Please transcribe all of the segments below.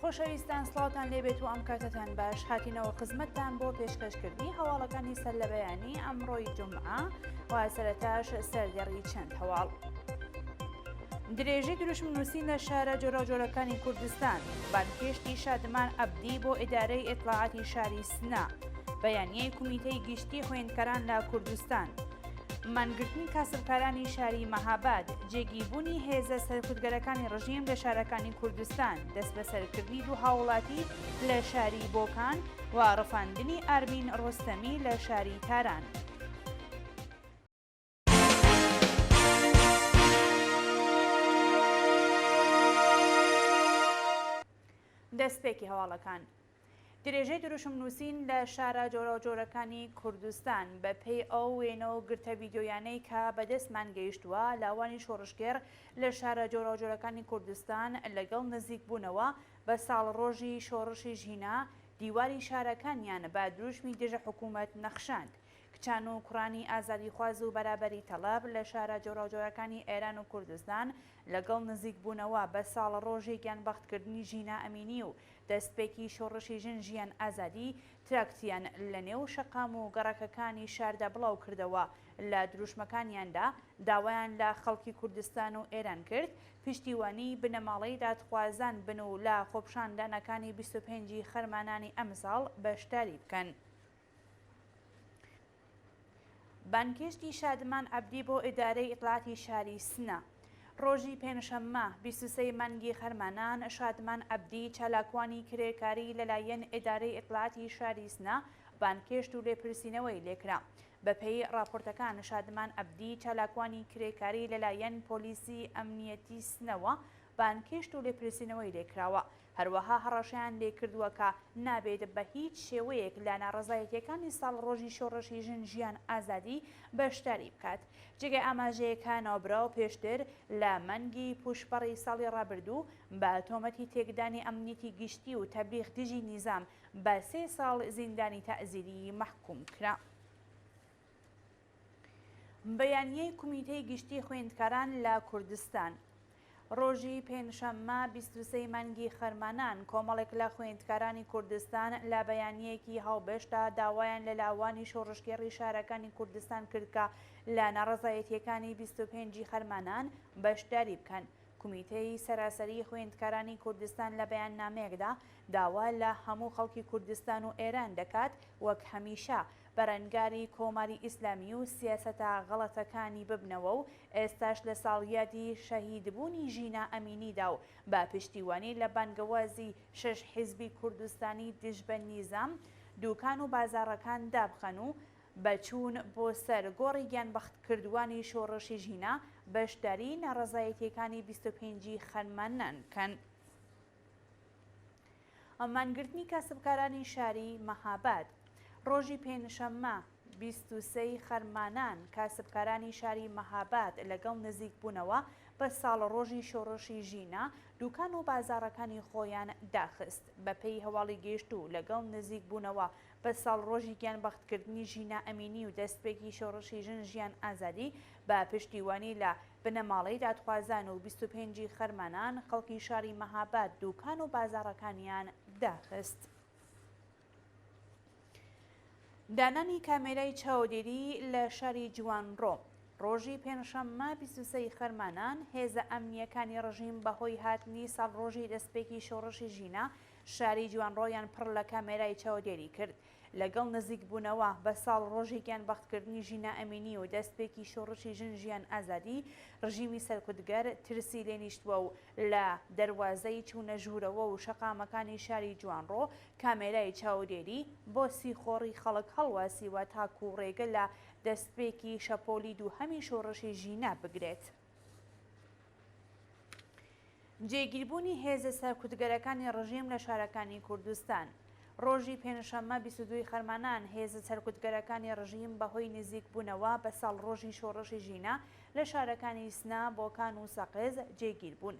خۆشەویستان سڵاوتان لێبێت و ئەم کاتەتان باش هاتینەوە خزمەتتان بۆ پێشکەشکردنی هەواڵەکانی سەر لە بەیانی ئەمڕۆی جمعە واسەرتاش سەردێڕی چەند هەواڵ درێژی دروشم نووسین لە شارە جۆراجۆرەکانی کوردستان بانکێشتی شادمان عبدی بۆ ئیدارەی ئێتلاعاتی شاری سنا بەیانیەی کومیتەی گشتی خوێندکەران لە کوردستان مانگرتنی کاسبکارانی شاری مەهاباد، جێگیر بوونی هێزە سەرکوتگەرەکانی ڕژیم لە شارەکانی کوردستان، دەسبەسەرکردنی دوو هاووڵاتی لە شاری بۆکان و ڕفاندنی ئارمین ڕۆستەمی لە شاری تاران. دەستپێکی هەواڵەکان. درێژەی دروشم نووسین لە شارە جۆراوجۆرەکانی کوردستان، بە پێی ئەو وێنە و گرتە ڤیدیۆیانەی کە بە دەستمان گەیشتووە، لاوانی شۆڕشگێڕ لە شارە جۆراوجۆرەکانی کوردستان لە گەڵ نزیک بوونەوە بە ساڵڕۆژی شۆڕشی ژینا، دیواری شارەکانیان بە دروشمی دژە حکوومەت نەخشاند. کچان و کوڕانی ئازادیخواز و بەرابەری تەڵەب لە شارە جۆراوجۆرەکانی ئێران و کوردستان لە گەڵ نزیک بوونەوە بە ساڵڕۆژی گیانبەخت کردنی ژینا ئەمینی و دەستپێکی شۆڕشی ژن ژیان ئازادی تراکتیان لە نێو شەقام و گەڕەکەکانی شاردا بڵاو کردەوە، لە دروشمەکانیاندا داوایان لە خەڵکی کوردستان و ئێران کرد پشتیوانی بنەماڵەی دادخوازان بن و لە خۆپشاندانەکانی بیست و پێنج ی خەرمانانی ئەمساڵ بەشداری بکەن. بانگهێشتی شادمان عەبدی بۆ ئیدارەی ئیتلاعاتی شاری سنە، ڕۆژی پێنجشەممە بیست و سێ ی مانگی خەرمانان، شادمان عەبدی، چالاکوانی کرێکاری لەلایەن ئیدارەی ئیتلاعاتی شاری سنە بانگهێشت و لێپرسینەوەی لێکرا. بەپێی ڕاپۆرتەکان، شادمان عەبدی، چالاکوانی کرێکاری لەلایەن پۆلیسی ئەمنییەتی سنەوە بانگهێشت و لێپرسینەوەی لێکراوە. هەروەها هەڕەشەیان لێکردووە کە نابێت بە هیچ شێوەیەک لە ناڕەزایەتییەکانی ساڵڕۆژی شۆڕشی ژن ژیان ئازادی بەشداری بکات. جێگای ئاماژەیە کە ناوبراو پێشتر لە مانگی پووشپەڕی ساڵی ڕابردوو بە تۆمەتی تێکدانی ئەمنیتی گشتی و تەبلیغ دژی نیزام بە سێ ساڵ زیندانی تەعزیریی مەحکووم کرا. بەیانیی کومیتەی گشتی خویندکاران لە کوردستان رۆژی پێنجشەممە بیست و سێ مانگی خەرمانان کۆمەڵێک لە خویندکارانی کوردستان لە بەیانییەکی هاوبەشدا داوایان لە لاوانی شۆڕشگێڕی شارەکانی کوردستان کرد کە لە ناڕەزایەتییەکانی بیست و پێنج ی خەرمانان بەشداری بکەن کومیتەی سەراسەریی خویندکارانی کوردستان لە بەیاننامەیەکدا داوا لە هەموو خەڵکی کوردستان و ئێران دەکات وەک هەمیشە بەرەنگاری کۆماری ئیسلامی و سیاسەتە غەڵەتەکانی ببنەوە و ئێستاش لە ساڵیادی شەهیدبوونی ژینا ئەمینیدا و بە پشتیوانی لە بانگەوازی شەش حیزبی کوردستانی دژ بە نیزام دووکان و بازاڕەکان دابخەن و بە چوون بۆ سەر گۆڕی گیانبەختکردووانی شۆڕشی ژینا بەشداریی ناڕەزایەتییەکانی بیست و پێنج ی خەرمانان بکەن. مانگرتنی کاسبکارانی شاری مەهاباد ڕۆژی پێنجشەممە بیست و سێ ی خەرمانان کاسبکارانی شاری مەهاباد لەگەڵ نزیکبوونەوە بە ساڵڕۆژی شۆڕشی ژینا دووکان و بازاڕەکانی خۆیان داخست. بەپێی هەواڵی گەیشتوو لەگەڵ نزیکبوونەوە بە ساڵڕۆژی گیانبەختکردنی ژینا ئەمینی و دەستپێکی شۆڕشی ژن ژیان ئازادی بە پشتیوانی لە بنەماڵەی دادخوازان و بیست و پێنج ی خەرمانان خەڵکی شاری مەهاباد دوکان و بازاڕەکانیان داخست. دانانی کامێرای چاودێری لە شاری جوانڕۆ، ڕۆژی پێنجشەممە بیست و سێ ی خەرمانان هێزە ئەمنییەکانی ڕژیم بەهۆی هاتنی ساڵڕۆژی دەستپێکی شۆڕشی ژینا، شاری جوانڕۆیان پڕ لە کامێرای چاودێری کرد. لەگەڵ نزیک بوونەوە بە ساڵ ڕۆژی گیان بەخت کردنی ژینا ئەمینی و دەست پێکی شۆڕشی ژن ژیان ئازادی، ڕژیمی سەرکوتگەر ترسی لێ نیشتوە و لە دەروازەی چوونە ژوورەوە و شەقامەکانی شاری جوانڕۆ کامێرای چاودێری بۆ سیخۆڕی خەڵک هەڵواسیوە تاکوو ڕێگە لە دەست پێکی شەپۆلی دووهەمی شۆڕشی ژینا بگرێت. جێگیربوونی هێزە سەرکوتگەرەکانی ڕژیم لە شارەکانی کوردستان ڕۆژی پێنجشەممە 22 خەرمانان هێزە سەرکوتگەرەکانی ڕژیم بەهۆی نزیکبوونەوە بە ساڵ ڕۆژی شۆڕشی ژینا لە شارەکانی سنا بۆکان و سەقز جێگیر بوون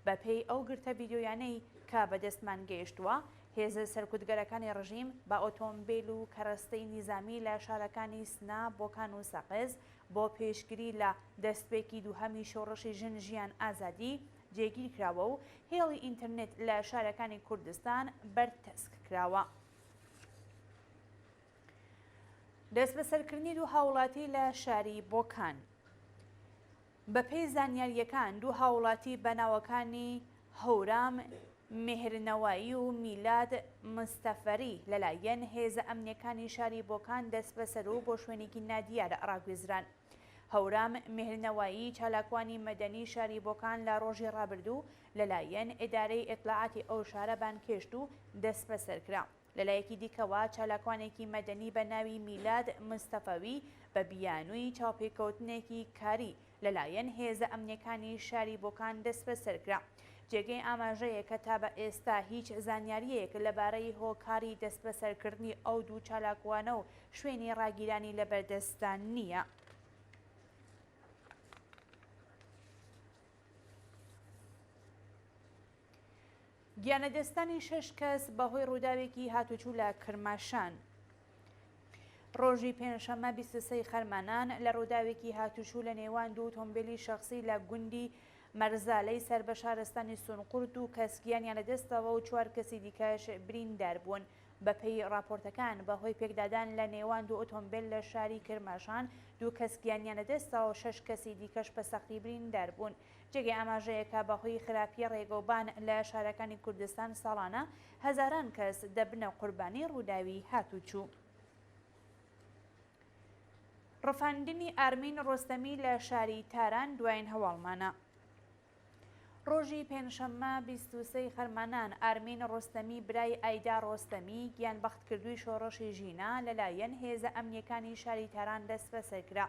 بەپێی ئەو گرتە ڤیدیۆیانەی کە بەدەستمان گەیشتووە هێزە سەرکوتگەرەکانی ڕژیم بە ئۆتۆمبیل و کەرەستەی نیزامی لە شارەکانی سنا بۆکان و سەقز بۆ پێشگری لە دەستپێکی دووهەمی شۆڕشی ژن ژیان ئازادی جێگیر کراوە و هێڵی ئینتەرنێت لە شارەکانی کوردستان بەرتەسک کراوە. دەستبەسەرکردنی دوو هاوڵاتی لە شاری بۆکان بەپێی زانیارییەکان دوو هاوڵاتی بە ناوەکانی هەورام میهرنەوایی و میلاد مستەفەری لەلایەن هێزە ئەمنییەکانی شاری بۆکان دەسبەسەر و بۆ شوێنێکی نادیار ڕاگوێزران. هەورام میهرنەوایی چالاکوانی مەدەنی شاری بۆکان لە ڕۆژی ڕابردوو لەلایەن ئیدارەی ئیتلاعاتی ئەو شارە بانگهێشت و دەسبەسەر کرا. لەلایەکی دیکەوە، چالاکوانێکی مەدەنی بە ناوی میلاد مستەفەوی بە بیانووی چاوپێکەوتنێکی کاری لەلایەن هێزە ئەمنییەکانی شاری بۆکان دەستبەسەر کرا. جێگەی ئاماژەیە کە تا بە ئێستا هیچ زانیارییەک لەبارەی هۆکاری دەستبەسەرکردنی ئەو دوو چالاکوانە و شوێنی ڕاگیرانی لە بەردەستدا نییە. گیانلەدەستدانی شەش کەس بەهۆی ڕووداوێکی هاتوچو لە کرماشان. ڕۆژی پێنجشەممە بیست و سێ ی خەرمانان لە ڕووداوێکی هاتوچو لە نێوان دوو ئۆتۆمبێلی شەخسی لە گوندی مەرزالەی سەر بە شارستانی سونقورت دوو کەس گیانیان لەدەستداوە و چوار کەسی دیکەش بریندار بوون. بەپێی ڕاپۆرتەکان بەهۆی پێکدادان لە نێوان دوو ئۆتۆمبێل لە شاری کرماشان دوو کەس گیانیان لەدەستداوە و شەش کەسی دیکەش بە سەختی بریندار بوون. جێگەی ئاماژەیە کە بەهۆی خراپی ڕێگەوبان لە شارەکانی کوردستان ساڵانە هەزاران کەس دەبنە قوربانی ڕووداوی هاتووچوو. ڕفاندنی ئارمین ڕۆستەمی لە شاری تاران دوایین هەواڵمانە. ڕۆژی پێنجشەممە بیست و سێی خەرمانان ئارمین ڕۆستەمی برای ئایدا ڕۆستەمی گیانبەختکردووی شۆڕشی ژینا لەلایەن هێزە ئەمنییەکانی شاری تاران دەسبەسەر کرا.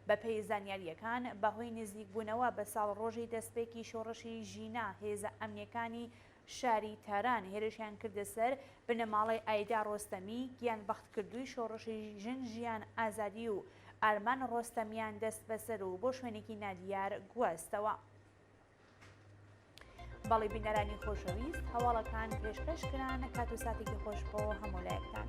بەپێی زانیارییەکان، بەهۆی نزیکبوونەوە بە ساڵڕۆژی دەستپێکی شۆڕشی ژینا، هێزە ئەمنییەکانی شاری تاران هێرشیان کردە سەر بنەماڵەی ئایدا ڕۆستەمی، گیانبەختکردووی شۆڕشی ژن ژیان ئازادی و ئارمان ڕۆستەمیان دەستبەسەر و بۆ شوێنێکی نادیار گواستەوە. بەڵی بینەرانی خۆشەویست هەواڵەکان پێشکەش کران کات و ساتێکی خۆش بۆ هەموو لایەکتان.